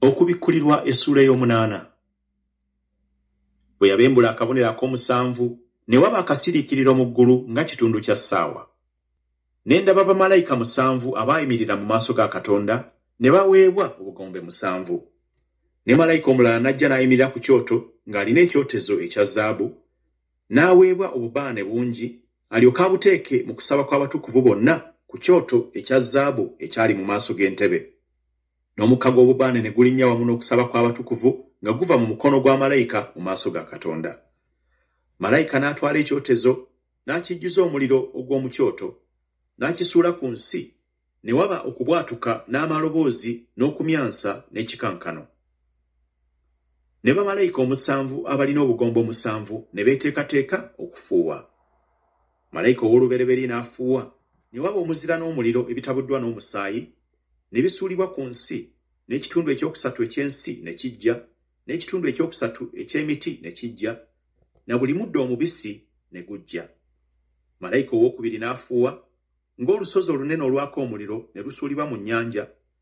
okubikkulirwa essuula ey'omunaana bwe yabembula akabonero ak'omusanvu ne waba akasiriikiriro mu ggulu nga kitundu kya ssaawa ne ndaba bamalayika musanvu abaayimirira mu maaso ga katonda ne baweebwa obugombe musanvu ne malayika omulala n'ajja n'ayimirira ku kyoto ng'alina ekyotezo ekya zaabu n'aweebwa obubaane bungi alyoke abuteeke mu kusaba kw'abatukuvu bonna ku kyoto ekya zaabu ekyali mu maaso g'entebe n'omukka gw'obubaane ne gulinnya wamu n'okusaba kw'abatukuvu nga guva mu mukono gwa malayika mu maaso ga Katonda. Malayika n'atwala ekyotezo n'akijjuza omuliro ogw'omu kyoto, n'akisuula ku nsi, ne waba okubwatuka n'amaloboozi n'okumyansa n'ekikankano. Ne bamalayika omusanvu abalina obugombe omusanvu ne beeteekateeka okufuuwa. Malayika ow'olubereberye n'afuuwa, ne waba omuzira n'omuliro ebitabuddwa n'omusaayi, ne bisuulibwa ku nsi, n'ekitundu ekyokusatu eky'ensi ne kijja, n'ekitundu ekyokusatu eky'emiti ne kijja, na buli muddo omubisi ne gujja. Malayika ow'okubiri n'afuuwa, ng'olusozi olunene olwaka omuliro ne lusuulibwa mu nnyanja,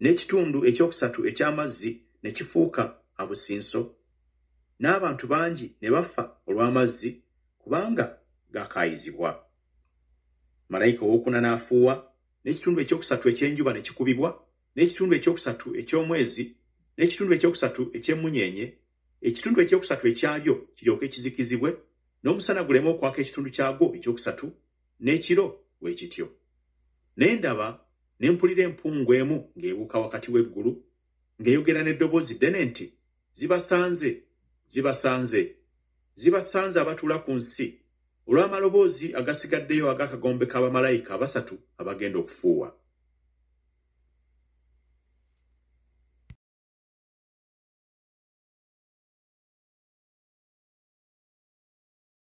n'ekitundu ekyokusatu eky'amazzi ne kifuuka abusinso, n'abantu bangi ne bafa olw'amazzi kubanga gaakaayizibwa. Malayika ow'okuna n'afuuwa, n'ekitundu ekyokusatu eky'enjuba ne kikubibwa, n'ekitundu ekyokusatu eky'omwezi, n'ekitundu ekyokusatu eky'emmunyeenye, ekitundu ekyokusatu ekyabyo kiryoke kizikizibwe, n'omusana guleme okwaka ekitundu kyagwo ekyokusatu, n'ekiro bwe kityo. Ne ndaba, ne mpulira empungu emu ng'ebuuka wakati w'eggulu, ng'eyogera n'eddoboozi ddene nti, Zibasanze! Zibasanze! Zibasanze abatuula ku nsi, olw'amaloboozi agasigaddeyo ag'akagombe ka bamalayika abasatu abagenda okufuuwa.